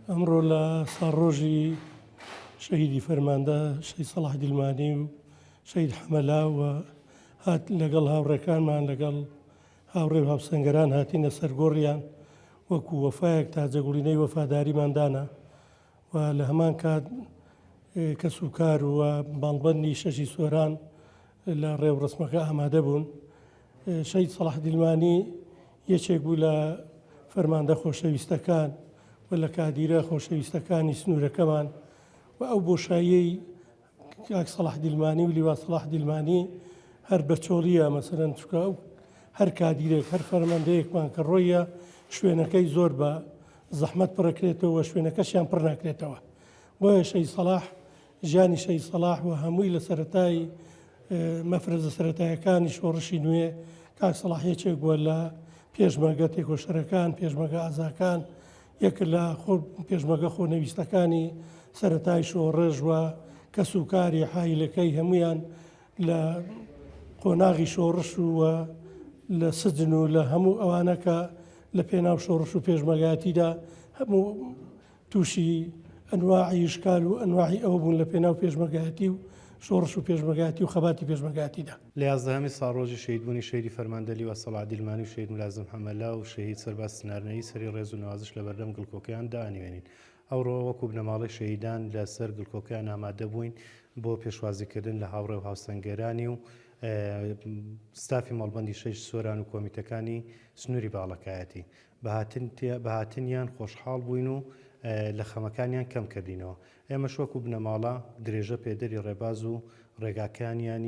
ئەمڕۆ لە ساڵڕۆژی شەهیدی فەرماندە شەید سەڵاح دیلمانی و شەید حەمەلا و هات لەگەڵ هاوڕێکانمان لەگەڵ هاوڕێ هاوسەنگەران هاتینە سەرگۆڕیان وەکو وەفایەک تا جەگوڵینەی وەفاداریمان دانا و لە هەمان کات کەس و کار و باڵبندی شەشی سۆران لە ڕێوڕەسمەکە ئامادە بوون. شەهید سەڵاح دیلمانی یەکێک بوو لە فەرماندە خۆشەویستەکان و لە کادیرە خۆشەویستەکانی سنوورەکەمان و ئەو بۆشاییەی کاک سەڵاح دیلمانی و لیوا سەڵاح دیلمانی هەر بە چۆڵیە مەسەرەن چکە ئەو هەر کادیرێک هەر فەرمەندەیەکمان کە ڕۆیە شوێنەکەی زۆر بە زەحمەت پڕەکرێتەوە شوێنەکەشیان پڕ ناکرێتەوە بۆیە شەی سەلاح ژیانی شەهید سەڵاح و هەمووی لە سەرەتای مەفرەزە سەرەتایەکانی شۆڕشی نوێ کاک سەڵاح یەکێک بووە لە پێشمەگە تێکۆشەرەکان پێشمەگە ئازاکان یەک لە خۆ پێشمەگە خۆنەویستەکانی سەتای شۆڕژ و کەس و کاری حیلەکەی هەمویان لە قۆناغی شۆڕش و لە سجن و لە هەموو ئەوانەکە لە پێناو شۆڕش و پێشمەگاتیدا هەموو تووشی ئەنواعی ئیشکال و ئەنواعی ئەوە بوون لە پێناو پێشمەرگایەتی و شۆڕش و پێشمەرگایەتی و خەباتی پێشمەرگایەتیدا. لە یازدەهەمین ساڵڕۆژی شەهیدبوونی شەهیدی فەرمان دەلیوا سەڵاح دیلمانی و شەهید ملازم حەمەلا و شەهید سەرباز سنارنەیی سەری ڕێز و نەوازش لە بەردەم گڵکۆکەیان دائەنوێنین. ئەوڕۆ وەکوو بنەماڵەی شەهیدان لە سەر گڵکۆکەیان ئامادە بووین بۆ پێشوازی کردن لە هاوڕێ و هاوسەنگەرانی و ستافی مەڵبەندی شەش سۆران و کۆمیتەکانی سنووری باڵەکایەتی. بە هاتنیان خۆشحاڵ بووین و لە خەمەکانیان کەم کردینەوە. ئێمەش وەکو بنەماڵە درێژە پێدەری ڕێباز و ڕێگاکانیانین.